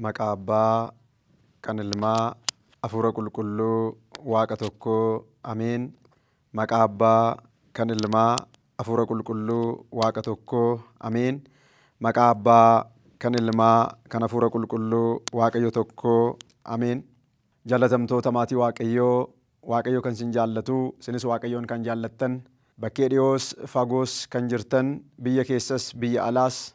Maqaa Abbaa, kan Ilmaa, Hafuura Qulqulluu, Waaqa tokkoo. Ameen. Maqaa Abbaa, kan Ilmaa, Hafuura Qulqulluu, Waaqa tokkoo. Ameen. Maqaa Abbaa, kan Ilmaa, kan Hafuura Qulqulluu, Waaqayyo tokkoo. Ameen. Jaalatamtoota maatii Waaqayyoo, Waaqayyo kan isin jaallatu, isinis Waaqayyoon kan jaallattan, bakkee dhi'oos fagoos kan jirtan, biyya keessas biyya alaas,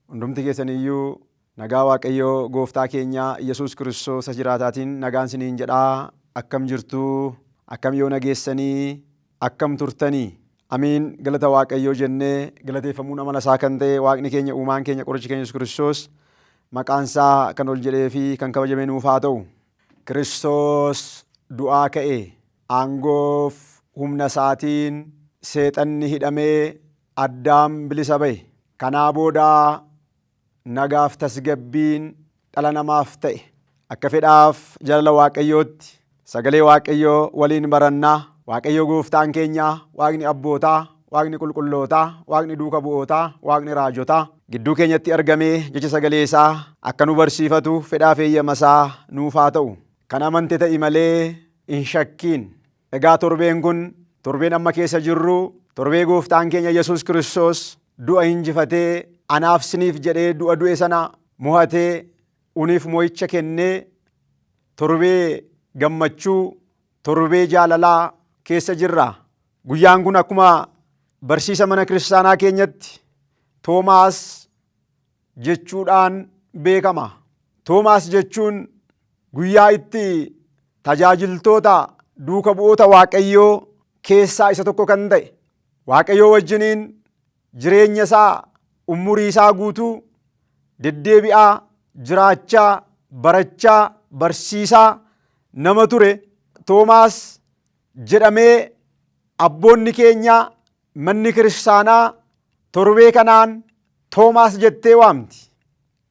hundumti keessan iyyuu nagaa Waaqayyo gooftaa keenya Yesuus Kiristoos isa jiraataatiin nagaan isiniin jedha. Akkam jirtu? Akkam yoona geessanii? Akkam turtanii? Ameen galata waaqayyoo jennee galateeffamuun amala isaa kan ta'e waaqni keenya uumaan keenya qorichi keenya Yesuus Kiristoos maqaan isaa kan ol jedhee fi kan kabajamee nuuf haa ta'u. Kiristoos du'aa ka'e aangoof humna isaatiin seexanni hidhamee addaam bilisa ba'e. Kanaa booda Nagaaf tasgabbiin dhala namaaf ta'e. Akka fedhaaf jalala Waaqayyootti sagalee Waaqayyoo waliin barannaa. Waaqayyo gooftaan keenya, Waaqni abbootaa, Waaqni qulqullootaa, Waaqni duuka bu'ootaa, Waaqni raajotaa gidduu keenyatti argamee jecha sagalee isaa akka nu barsiifatu fedhaaf eeyyama isaa nuuf haa ta'u. Kan amante ta'i malee hin shakkiin. Egaa torbeen kun, torbeen amma keessa jirru, torbee Gooftaan keenya Yesuus Kiristoos du'a injifatee anaaf siniif jedhee du'a du'e sana mo'atee uniif mo'icha kennee torbee gammachuu, torbee jaalalaa keessa jirra. Guyyaan kun akkuma barsiisa mana kiristaanaa keenyatti Toomaas jechuudhaan beekama. Toomaas jechuun guyyaa itti tajaajiltoota duuka bu'oota Waaqayyoo keessaa isa tokko kan ta'e Waaqayyoo wajjiniin jireenya isaa umurii isaa guutuu deddeebi'aa jiraachaa barachaa barsiisaa nama ture Toomaas jedhamee abboonni keenya Manni kiristaanaa torbee kanaan Toomaas jettee waamti.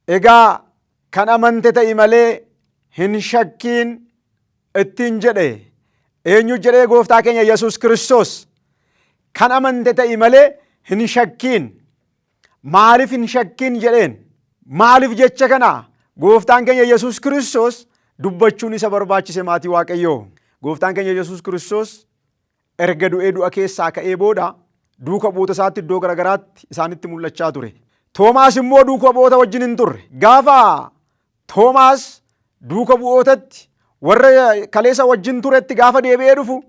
Egaa kan amante ta'i malee hin shakkiin ittiin jedhe. Eenyu jedhee gooftaa keenya Yesuus Kiristoos kan amante ta'i malee hin shakkiin. Maaliif hin shakkiin jedheen? Maaliif jecha kana gooftaan keenya Yesuus Kiristoos dubbachuun isa barbaachise maatii Waaqayyoo. Gooftaan keenya Yesuus Kiristoos Erga du'ee du'a keessaa ka'ee booda duuka bu'oota isaatti iddoo garagaraatti isaanitti mul'achaa ture. Toomaas immoo duuka bu'oota wajjin hin turre. Gaafa Toomaas duuka bu'ootatti warra kaleessa wajjin turetti gaafa deebi'ee dhufu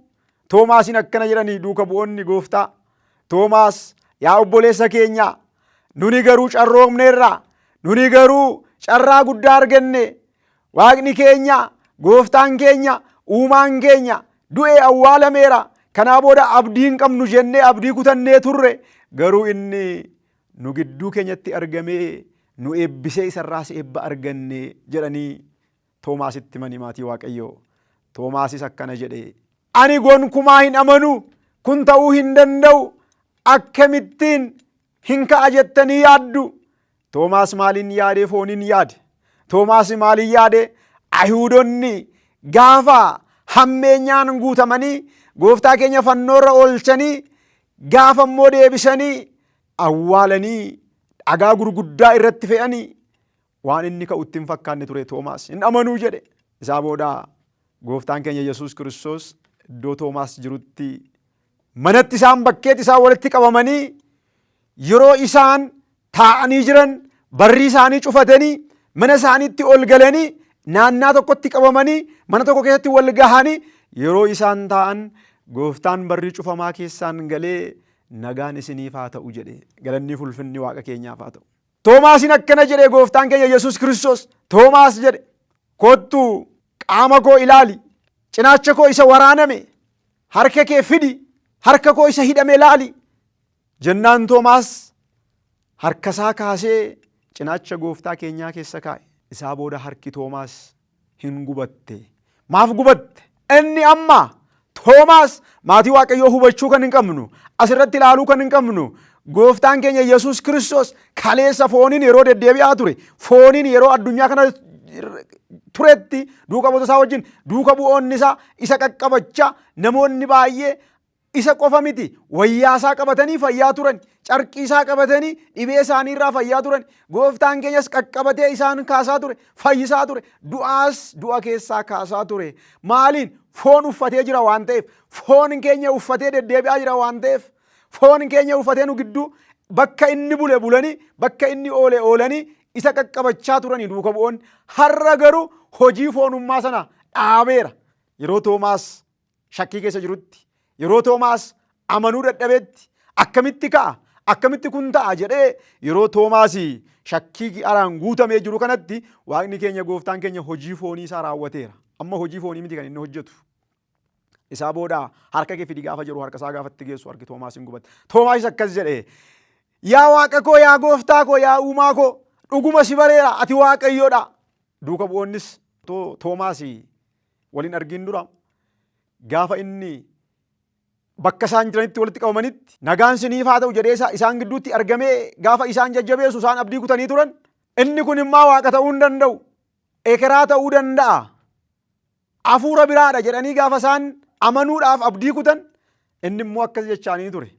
Toomaasiin akkana jedhanii duuka bu'oonni gooftaa Toomaas yaa obboleessa keenya nuni garuu carroomneerra nuni garuu carraa guddaa arganne Waaqni keenya, gooftaan keenya, uumaan keenya du'e awwaalameera. Kanaa booda abdii hin qabnu jennee abdii kutannee turre. Garuu inni nu gidduu keenyatti argamee nu eebbisee isarraas eebba arganne jedhanii Toomaasitti mani maatii Waaqayyoo. Toomaasis akkana jedhe. Ani gonkumaa hin amanu. Kun ta'uu hin danda'u. Akkamittiin Hin ka'a jettanii yaaddu. Toomaas maaliin yaadee fooniin yaade? Toomaas maaliin yaade? Ayihuudonni gaafa hammeenyaan guutamanii gooftaa keenya fannoorra oolchanii gaafa immoo deebisanii awwaalanii dhagaa gurguddaa irratti fe'anii Waan inni ka'u itti hin fakkaanne ture Toomaas. Hin amanuu jedhe. Isaa booda gooftaan keenya Yesuus Kiristoos iddoo Toomaas jirutti manatti isaan bakkeetti isaan walitti qabamanii yeroo isaan taa'anii jiran barrii isaanii cufatanii mana isaaniitti ol galanii naannaa tokkotti qabamanii mana tokko keessatti wal gahanii yeroo isaan taa'an gooftaan barrii cufamaa keessaan galee nagaan isiniif haa ta'u jedhe galannii fulfinni waaqa keenyaaf haa ta'u. Toomaasiin akkana jedhee gooftaan keenya Yesuus Kiristoos Toomaas jedhe kottu qaama koo ilaali cinaacha koo isa waraaname harka kee fidi harka koo isa hidhame ilaali jennaan Toomaas harkasaa kaasee cinaacha gooftaa keenyaa keessa kaa'e isaa booda harki Toomaas hin gubatte. Maaf gubatte? Inni amma Toomaas maatii Waaqayyoo hubachuu kan hin qabnu, asirratti ilaaluu kan hin qabnu, gooftaan keenya Yesuus Kiristoos kaleessa fooniin yeroo deddeebi'aa ture, fooniin yeroo addunyaa kana turetti duuka bu'oota isaa wajjin duuka bu'oonni isaa isa qaqqabachaa namoonni baay'ee Isa qofa miti, wayyaa isaa qabatanii fayyaa turan, carqii isaa qabatanii dhibee isaanii irraa fayyaa turan, gooftaan keenyas qaqqabatee isaan kaasaa ture, fayyisaa ture, du'aas du'a keessaa kaasaa ture. Maaliin? Foon uffatee jira waan ta'eef, foon keenya uffatee deddeebi'aa jira waan ta'eef, foon keenya uffatee nu gidduu bakka inni bule bulanii, bakka inni oole oolanii isa qaqqabachaa turanii duuka bu'oonni. Har'a garuu hojii foonummaa sana dhaabeera. Yeroo Toomaas shakkii keessa jirutti yeroo Toomaas amanuu dadhabetti akkamitti ka'a akkamitti kun ta'a jedhee yeroo Toomaas shakkii araan guutamee jiru kanatti waaqni keenya gooftaan keenya hojii foonii isaa raawwateera. Amma hojii foonii miti kan inni hojjetu. Isaa booda harka kee fidi gaafa jedhu harka isaa gaafatti geessu harki Toomaas hin gubatte. Toomaas akkas jedhe yaa waaqa koo yaa gooftaa koo yaa uumaa koo dhuguma si bareera ati waaqayyoodha. Duuka bu'oonnis Toomaas wal hin argiin dura gaafa inni bakka isaan jiranitti walitti qabamanitti nagaan siniif haa ta'u jedhee isaan gidduutti argamee gaafa isaan jajjabeessu isaan abdii kutanii turan inni kun immaa waaqa ta'uu hin danda'u ekeraa ta'uu danda'a hafuura biraadha jedhanii gaafa isaan amanuudhaaf abdii kutan inni immoo akkas jechaanii ture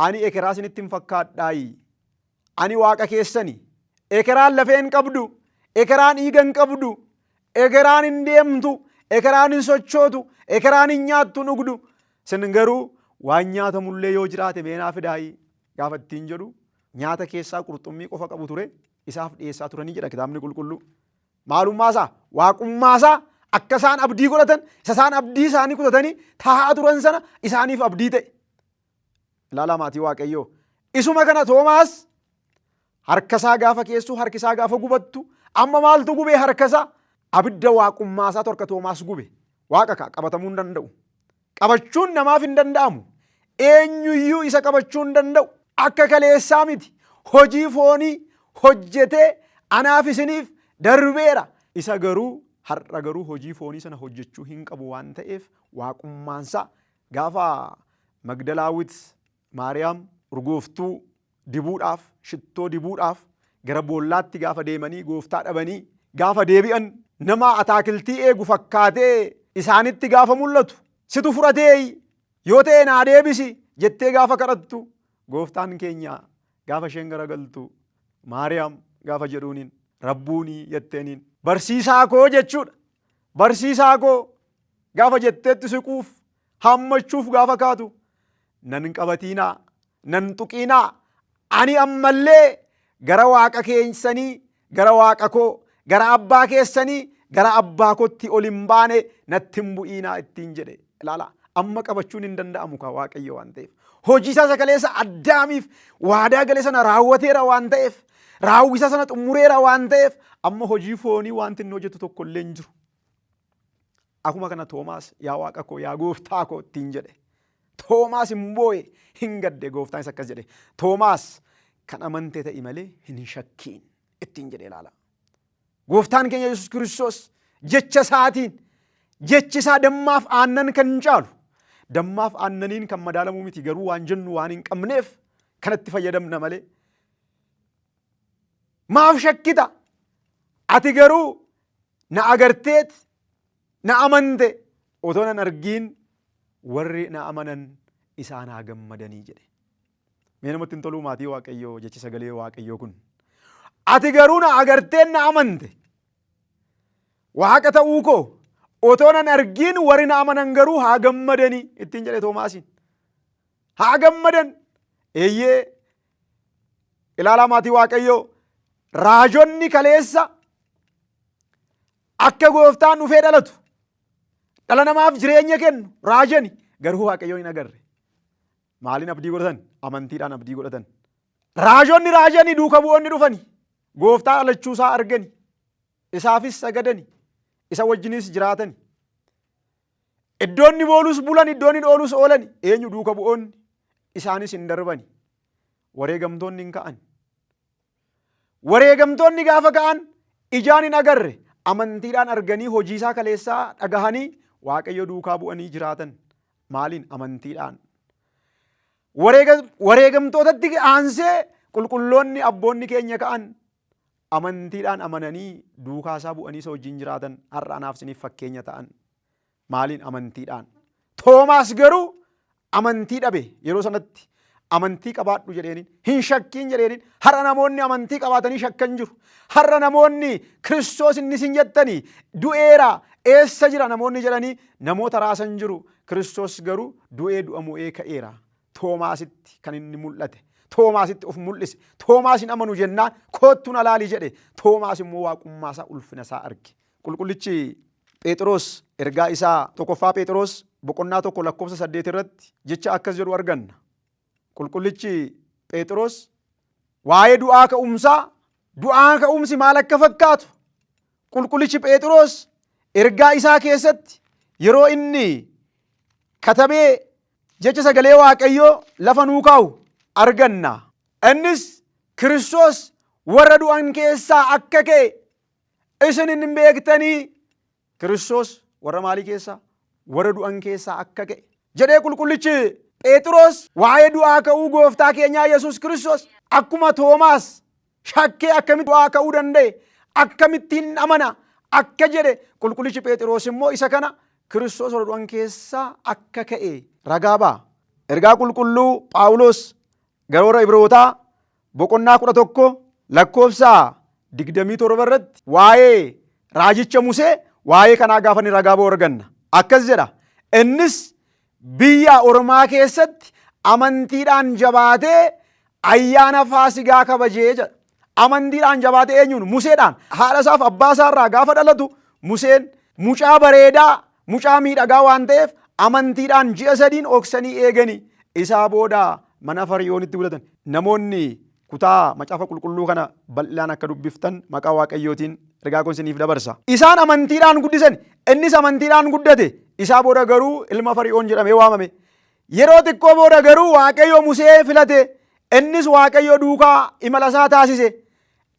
ani ekeraa sinitti hin fakkaadhaayi Ani Waaqa keessani. Ekeraan lafee hin qabdu, ekeraan dhiiga hin qabdu, ekeraan hin deemtu, ekeraan hin sochootu, ekeraan hin nyaattu hin dhugdu. Sin garuu waan nyaatamullee yoo jiraate mee naa fidaayi gaafa ittiin jedhu nyaata keessaa qurxummii qofa qabu ture isaaf dhiyeessaa turanii jedha kitaabni qulqulluu. Maalummaa isaa waaqummaa isaa akka isaan abdii godhatan isa isaan abdii isaanii kutatanii taa'aa turan sana isaaniif abdii ta'e. Ilaalaa maatii Waaqayyoo. Isuma kana Toomaas harkasaa gaafa keessu harkisaa gaafa gubattu amma maaltu gubee harkasaa abidda waaqummaasaa torka Toomaas gube. Waaqa kaa qabatamuu hin danda'u. Qabachuun namaaf hin danda'amu. Eenyuyyuu isa qabachuu hin danda'u. Akka kaleessaa miti. Hojii foonii hojjetee anaaf isiniif darbeera. Isa garuu har'a garuu hojii foonii sana hojjechuu hin qabu waan ta'eef waaqummaansaa Gaafa Magdalaawit Maariyaam urgooftuu dibuudhaaf, shittoo dibuudhaaf gara boollaatti gaafa deemanii gooftaa dhabanii gaafa deebi'an nama ataakiltii eegu fakkaatee isaanitti gaafa mul'atu situ fudhateeyi yoo ta'e naa deebisi jettee gaafa kadhattu gooftaan keenya gaafa isheen garagaltu Maariyaam gaafa jedhuuniin rabbuunii jetteeniin barsiisaa koo jechuudha. Barsiisaa koo gaafa jetteetti siquuf hammachuuf gaafa kaatu nan qabatiinaa nan tuqiinaa ani ammallee gara waaqa keessanii gara waaqa koo gara abbaa keessanii gara abbaa kootti ol hin baane natti hin bu'iinaa ittiin jedhe ilaala amma qabachuun hin danda'amu kaa waaqayyo waan ta'eef hojii isaa isa kaleessa addaamiif waadaa gale sana raawwateera waan ta'eef Raawwisa sana xumureera waan ta'eef amma hojii foonii wanti inni hojjetu tokko illee hin jiru. Akuma kana Toomaas yaa waaqa koo yaa gooftaa koo ittiin jedhe. Toomaas hin boo'e hin gadde gooftaanis akkas jedhe. Toomaas kan amante ta'i malee hin shakkiin ittiin jedhe ilaala. Gooftaan keenya Yesuus Kiristoos jecha isaatiin jechi isaa dammaaf aannan kan caalu dammaaf aannaniin kan madaalamuu miti garuu waan jennu waan hin qabneef kanatti fayyadamna malee Maaf shakkita? Ati garuu na agarteet na amante otoo nan argiin warri na amanan isaan haa gammadanii jedhe. Mee namatti hin toluu maatii waaqayyoo jechi sagalee waaqayyoo kun. Ati garuu na agarteet na amante. Waaqa ta'uu koo otoo nan argiin warri na amanan garuu haa gammadanii ittiin jedhe Toomaasiin. Haa gammadan eeyyee Ilaalaa maatii Waaqayyoo raajonni kaleessa akka gooftaan dhufee dhalatu dhala namaaf jireenya kennu raajani garuu Waaqayyoon hin agarre. Maaliin abdii godhatan? Amantiidhaan abdii godhatan. Raajonni raajanii duuka bu'oonni dhufani. Gooftaa dhalachuu isaa argani. Isaafis sagadani. Isa wajjinis jiraatani. Iddoonni boolus bulan iddoonni dhoolus oolani. Eenyu duuka bu'oonni isaanis hin darbani. Wareegamtoonni hin ka'an. Wareegamtoonni gaafa ka'an ijaan hin agarre amantiidhaan arganii hojiisaa kaleessaa dhagahanii waaqayyo duukaa bu'anii jiraatan. Maaliin amantiidhaan. Wareega- Wareegamtootatti aansee qulqulloonni abboonni keenya ka'an amantiidhaan amananii duukaa isaa bu'anii isa wajjin jiraatan har'a anaaf isiniif fakkeenya ta'an. Maaliin amantiidhaan. Toomaas garuu amantii dhabe yeroo sanatti amantii qabaadhu jedheeniin hin shakkiin jedheeniin har'a namoonni amantii qabaatanii shakkan jiru. Har'a namoonni Kiristoos inni isin jettanii du'eera eessa jira namoonni jedhanii namoota raasan jiru. Kiristoos garuu du'ee du'a mo'ee ka'eera. Toomaasitti kan inni mul'ate. Toomaasitti of mul'ise. Toomaas hin amanu jennaan koottu na laali jedhe. Toomaas immoo waaqummaa isaa ulfina isaa arge. Qulqullichi Pheexiroos ergaa isaa tokkoffaa Pheexiroos boqonnaa tokko lakkoofsa saddeet irratti jecha akkas jedhu arganna. Qulqullichi Pheexiroos waa'ee du'aa ka'umsaa du'aa ka'umsi maal akka fakkaatu qulqullichi Pheexiroos ergaa isaa keessatti yeroo inni katabee Jecha sagalee Waaqayyoo lafa nuu kaa'u arganna. Innis Kiristoos warra du'an keessaa akka ka'e isin hin beektanii. Kiristoos warra maalii keessaa? Warra du'an keessaa akka ka'e. Jedhee qulqullichi Pheexiroos waa'ee du'aa ka'uu gooftaa keenyaa Yesuus Kiristoos akkuma Toomaas shakkee akkamitti du'aa ka'uu danda'e akkamittiin amana akka jedhe qulqullichi Pheexiroos immoo isa kana Kiristoos warra du'an keessaa akka ka'e ragaa ba'a. Ergaa qulqulluu Phaawulos gara warra Ibrootaa boqonnaa kudha tokko lakkoofsa digdamii torba irratti waa'ee raajicha Musee waa'ee kanaa gaafa inni ragaa ba'u arganna. Akkas jedha. Innis Biyya ormaa keessatti amantiidhaan jabaatee ayyaana faasigaa kabajee jedha. Amantiidhaan jabaatee eenyuun? Museedhaan. Haadha isaaf abbaa isaarraa gaafa dhalatu Museen mucaa bareedaa, mucaa miidhagaa waan ta'eef amantiidhaan ji'a sadiin oksanii eeganii isaa booda mana Fariyoonitti gudatan. Namoonni Kutaa Macaafa Qulqulluu kana bal'inaan akka dubbiftan maqaa Waaqayyootiin ergaa koo isiniif dabarsa. Isaan amantiidhaan guddisan, innis amantiidhaan guddate. Isaa booda garuu ilma Fari'oon jedhamee waamame. Yeroo xiqqoo booda garuu Waaqayyo Musee filate, innis Waaqayyo duukaa imala isaa taasise.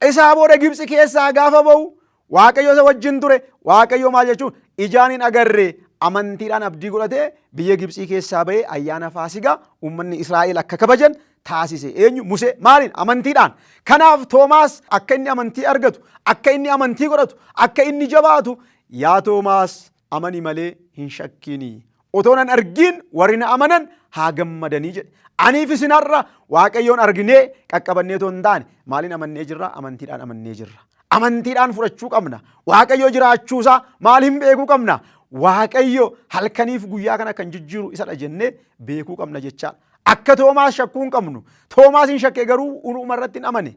Isaa booda Gibtsi keessaa gaafa ba'u Waaqayyo isa wajjin ture. Waaqayyo maal jechuun ijaan hin agarre amantiidhaan abdii godhatee biyya Gibxii keessaa ba'ee ayyaana faasigaa uummanni Israa'el akka kabajan taasise. Eenyu? Musee. Maaliin? Amantiidhaan. Kanaaf Toomaas akka inni amantii argatu, akka inni amantii godhatu, akka inni jabaatu yaa Toomaas amani malee hin shakkiini. Otoo nan argiin warri na amanan haa gammadanii jedhe. Aniif isin har'a Waaqayyoon arginee qaqqabannee otoo hin taane maaliin amannee jirra? Amantiidhaan amannee jirra. Amantiidhaan fudhachuu qabna. Waaqayyo jiraachuusaa maaliin beekuu qabna? Waaqayyo halkaniif guyyaa kana kan jijjiiru isadha jennee beekuu qabna jechaadha. Akka Toomaas shakkuu hin qabnu. Toomaas hin shakke garuu uuma irratti hin amane.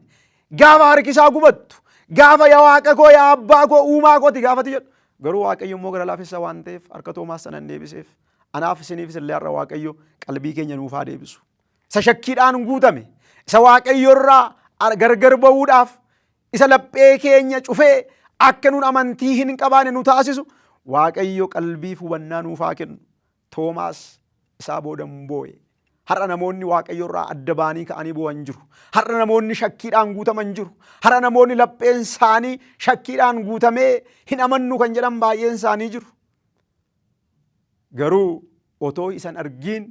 Gaafa harkisaa gubattu, gaafa yaa waaqa koo yaa abbaa koo uumaa kooti gaafati jedhu. Garuu waaqayyo immoo gara laafessa waan ta'eef harka Toomaas sana hin deebiseef. Anaaf isiniifis illee har'a waaqayyo qalbii keenya nuuf haa deebisu. Isa shakkiidhaan guutame, isa waaqayyo irraa gargar ba'uudhaaf, isa laphee keenya cufee akka nun amantii hin qabaane nu taasisu waaqayyo qalbiif hubannaa nuuf haa kennu. Toomaas isaa booda in boo'e. Har'a namoonni Waaqayyo irraa adda ba'anii ka'anii boo'an jiru. Har'a namoonni shakkiidhaan guutaman jiru. Har'a namoonni lapheen isaanii shakkiidhaan guutamee hin amannu kan jedhan baay'een isaanii jiru. Garuu otoo isan argiin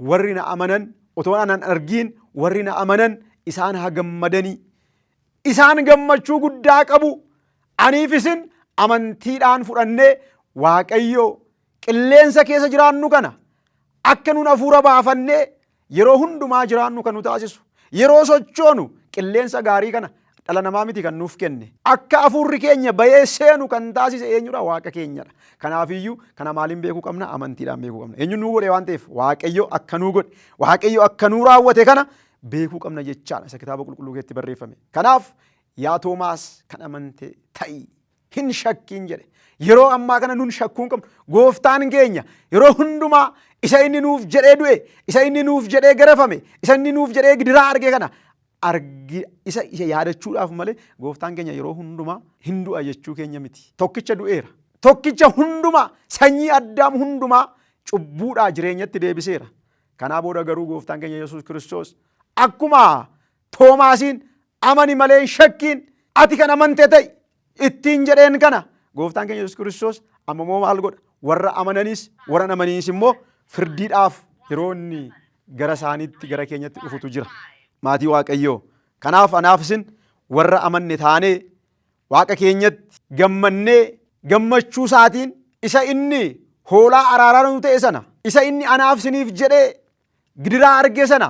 warri na amanan otoo anan argiin warri na amanan isaan haa gammadanii. Isaan gammachuu guddaa qabu. Aniif isin amantiidhaan fudhannee Waaqayyo Qilleensa keessa jiraannu kana akka nun hafuura baafannee yeroo hundumaa jiraannu kan nu taasisu. Yeroo sochoonu qilleensa gaarii kana dhala namaa miti kan nuuf kenne. Akka hafuurri keenya bayee seenu kan taasise eenyudha? Waaqa keenyadha. Kanaafiyyuu kana maaliin beekuu qabna? Amantiidhaan beekuu qabna. Eenyuun nuu godhe waan ta'eef Waaqayyo akka nuu godhe, Waaqayyo akka nuu raawwate kana beekuu qabna jechaadha isa kitaaba qulqulluu keessatti barreeffame. Kanaaf yaa Toomaas kan amante ta'i. hin shakkiin jedhe. Yeroo ammaa kana nun shakkuu hin qabnu. Gooftaan keenya yeroo hundumaa isa inni nuuf jedhee du'e, isa inni nuuf jedhee garafame, isa inni nuuf jedhee gidiraa arge kana argi isa isa yaadachuudhaaf malee gooftaan keenya yeroo hundumaa hin du'a jechuu keenya miti. Tokkicha du'eera. Tokkicha hundumaa sanyii addaam hundumaa cubbuudhaa jireenyatti deebiseera. Kanaa booda garuu gooftaan keenya Yesuus Kiristoos akkuma Toomaasiin, Amani malee hin shakkiin, ati kan amante ta'i ittiin jedheen kana gooftaan keenya Yesuus Kiristoos amma immoo maal godha? Warra amananis warra amaniinis immoo firdiidhaaf yeroo inni gara isaaniitti gara keenyatti dhufutu jira. Maatii Waaqayyoo. Kanaaf anaaf isin warra amanne taanee Waaqa keenyatti gammannee gammachuu isaatiin isa inni hoolaa araaraa nu ta'e sana isa inni anaaf isiniif jedhee gidiraa arge sana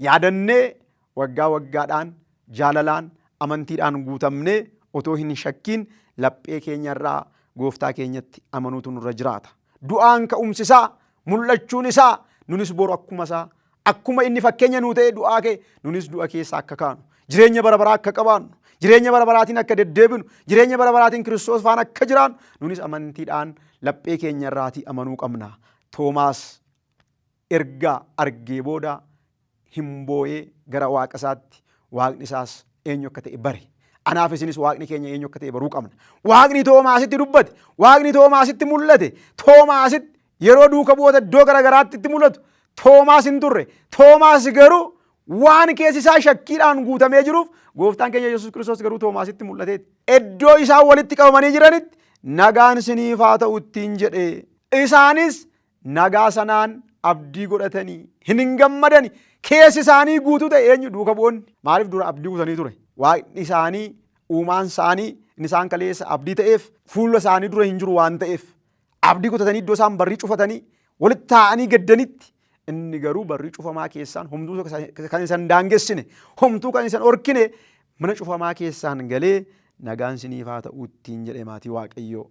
Yaadannee waggaa waggaadhaan jaalalaan, amantiidhaan guutamnee otoo hin shakkiin laphee keenya irraa Gooftaa keenyatti amanuutu nurra jiraata. Du'aan ka'umsi isaa, mul'achuun isaa nunis boru akkuma isaa, akkuma inni fakkeenya nuu ta'ee du'aa ka'e nunis du'a keessa akka kaanu, jireenya bara baraa akka qabaannu, jireenya bara baraatiin akka deddeebinu, jireenya bara baraatiin Kiristoos faana akka jiraannu nunis amantiidhaan laphee keenya irraatii amanuu qabna. Toomaas Erga argee booda hin booyee gara Waaqa isaatti, Waaqni isaas eenyu akka ta'e bare. Anaaf isinis Waaqni keenya eenyu akka ta'e baruu qabna. Waaqni Toomaasitti dubbate, Waaqni Toomaasitti mul'ate, Toomaasitti yeroo duuka bu'oota iddoo gara garaatti itti mul'atu Toomaas hin turre. Toomaas garuu waan keessi isaa shakkiidhaan guutamee jiruuf gooftaan keenya Yesuus Kiristoos garuu Toomaasitti mul'ateeti. Iddoo isaan walitti qabamanii jiranitti nagaan siniif haa ta'u ittiin jedhe. Isaanis nagaa sanaan abdii godhatanii hin hin gammadani keessi isaanii guutuu ta'e eenyu duuka bu'oonni maaliif dura abdii kutanii ture waaqni isaanii uumaan isaanii inni isaan kaleessa abdii ta'eef fuula isaanii dura hin jiru waan ta'eef abdii kutatanii iddoo isaan barrii cufatanii walitti taa'anii gaddanitti inni garuu barrii cufamaa keessaan homtuu kan isan daangessine homtuu kan isan orkine mana cufamaa keessaan galee nagaan siniif haa ta'u ittiin jedhe maatii waaqayyoo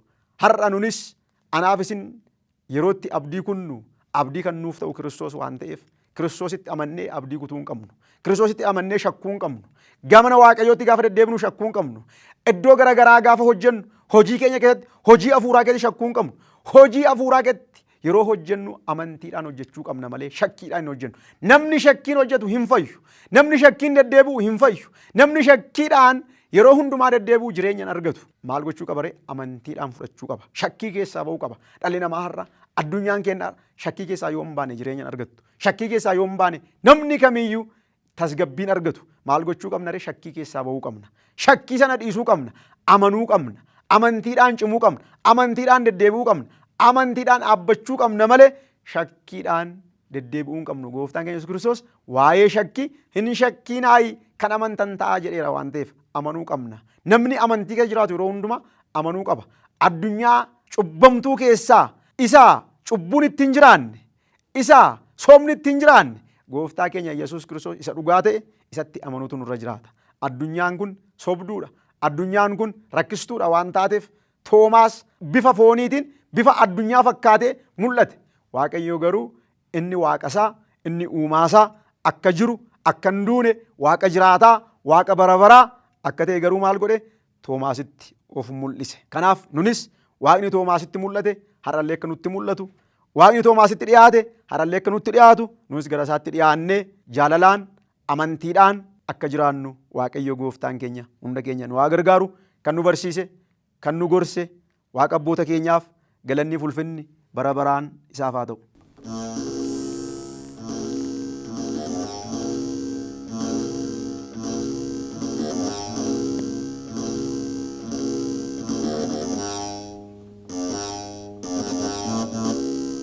har'a nunis Anaaf isin yeroo itti abdii kunnu abdii kan nuuf ta'u Kiristoos waan ta'eef Kiristoositti amannee abdii kutuu hin qabnu. Kiristoositti amannee shakkuu hin qabnu. Gamana Waaqayyootti gaafa deddeebinu shakkuu hin qabnu. Iddoo gara garaa gaafa hojjennu hojii keenya keessatti hojii hafuuraa keessatti shakkuu hin qabnu. Hojii hafuuraa keessatti yeroo hojjennu amantiidhaan hojjechuu qabna malee shakkiidhaan hin hojjennu. Namni shakkiin hojjetu hin fayyu. Namni shakkiin deddeebi'u hin fayyu. Namni shakkiidhaan Yeroo hundumaa deddeebi'u jireenya hin argatu. Maal gochuu qaba ree? Amantiidhaan fudhachuu qaba. Shakkii keessaa ba'uu qaba. Dhalli namaa har'a addunyaan keenya har'a shakkii keessaa yoo hin baane jireenya hin argattu. Shakkii keessaa yoo hin baane namni kamiyyuu tasgabbiin argatu. Maal gochuu qabna ree? Shakkii keessaa ba'uu qabna. Shakkii sana dhiisuu qabna. Amanuu qabna. Amantiidhaan cimuu qabna. Amantiidhaan deddeebi'uu qabna. Amantiidhaan dhaabbachuu qabna malee shakkiidhaan deddeebi'uu hin qabnu. Gooftaan keenya Yesuus Kiristoos waa'ee shakkii hin shakkiinaayi kan amantan ta'aa jedheera waan ta'eef amanuu qabna. Namni amantii keessa jiraatu yeroo hundumaa amanuu qaba. Addunyaa cubbamtuu keessaa isa cubbuun itti hin jiraanne, isa soomni itti hin jiraanne, gooftaa keenya Yesuus Kiristoos isa dhugaa ta'e isatti amanuutu nurra jiraata. Addunyaan kun sobduudha. Addunyaan kun rakkistuudha waan taateef Toomaas bifa fooniitiin bifa addunyaa fakkaatee mul'ate. Waaqayyoo garuu inni waaqasaa, inni uumaasaa akka jiru, akka hin duune, waaqa jiraataa, waaqa bara baraa akka ta'e garuu maal godhe? Toomaasitti of mul'ise. Kanaaf nunis waaqni Toomaasitti mul'ate har'allee akka nutti mul'atu, waaqni Toomaasitti dhiyaate har'allee akka nutti dhiyaatu nunis gara isaatti dhiyaannee jaalalaan Amantiidhaan akka jiraannu Waaqayyo gooftaan keenya hunda keenya nu haa gargaaru. Kan nu barsiise, kan nu gorse Waaqa abboota keenyaaf galanniif ulfinni bara baraan isaaf haa ta'u.